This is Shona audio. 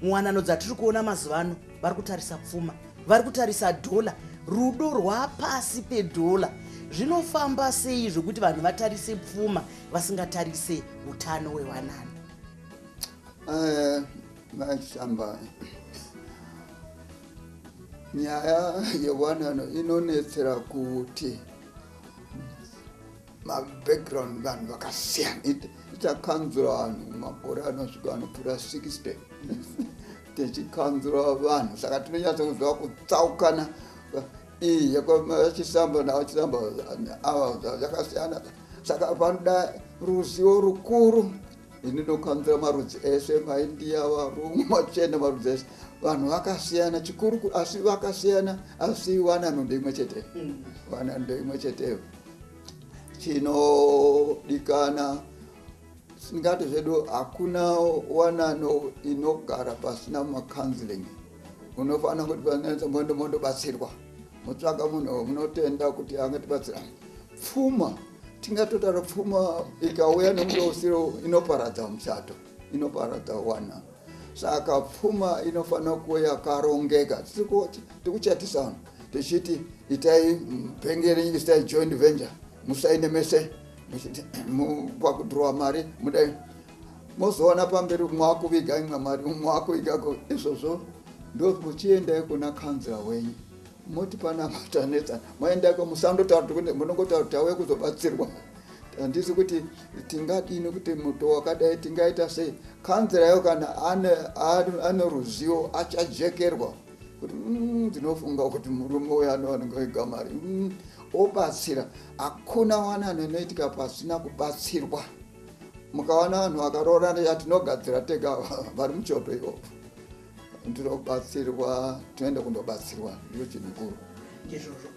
muwanano dzatiri kuona mazuva ano vari kutarisa pfuma vari kutarisa dhola rudo rwapasi pedhola zvinofamba sei zvekuti vanhu vatarise pfuma vasingatarise utano wewanano eh, mashamba nyaya yewanano inonetsera kuti mabackground vanhu vakasiyana takanzura vanhu makore anosvika anopfuura 60 tichikanzura vanhu saka tinonyatsokuziva kutsaukana iyi yekuvachisamba navachisamba ava zvakasiyana saka panoda ruzivo rukuru ini ndokanzura marudzi ese maindiya varungu machena marudzi ese vanhu vakasiyana chikuru asi vakasiyana asi wanano ndeimwe chete mm. wanano ndeimwe cheteyo chinodikana singati zvedu hakuna wanano inogara pasina macounseling unofanira kuti panetsa mondo mondobatsirwa motsvaga munhu munotenda kuti angatibatsira pfuma tingatotaura pfuma ikauya nemuto usiro inoparadza muchato inoparadza wana saka pfuma inofanira kuve yakarongeka tikuchatisa vanhu tichiti itai bhengeri isai joint venture musaine mese kwakudhirowa mari mudai mozoona pamberi mwakuviga imwe mari mwakuviga izvozvo ndomuchiendai kuna kanzira wenyu moti pana matanetsana moendako musandotaura kuti munongotaura kuti tauye kuzobatsirwa handisi kuti tingadii nekuti muto wakadai tingaita sei kanzira yayo kana ane ruzivo achajekerwa kuti mm, ndinofunga kuti murume uyo anowanika igamari mm, obatsira hakuna wanano inoitika pasina kubatsirwa mukawana vanhu vakaroorana yatinogadzira tega vari muchoto ivovo ndinobatsirwa tinoenda kundobatsirwa ndiro chinhu kuru ndizvozvo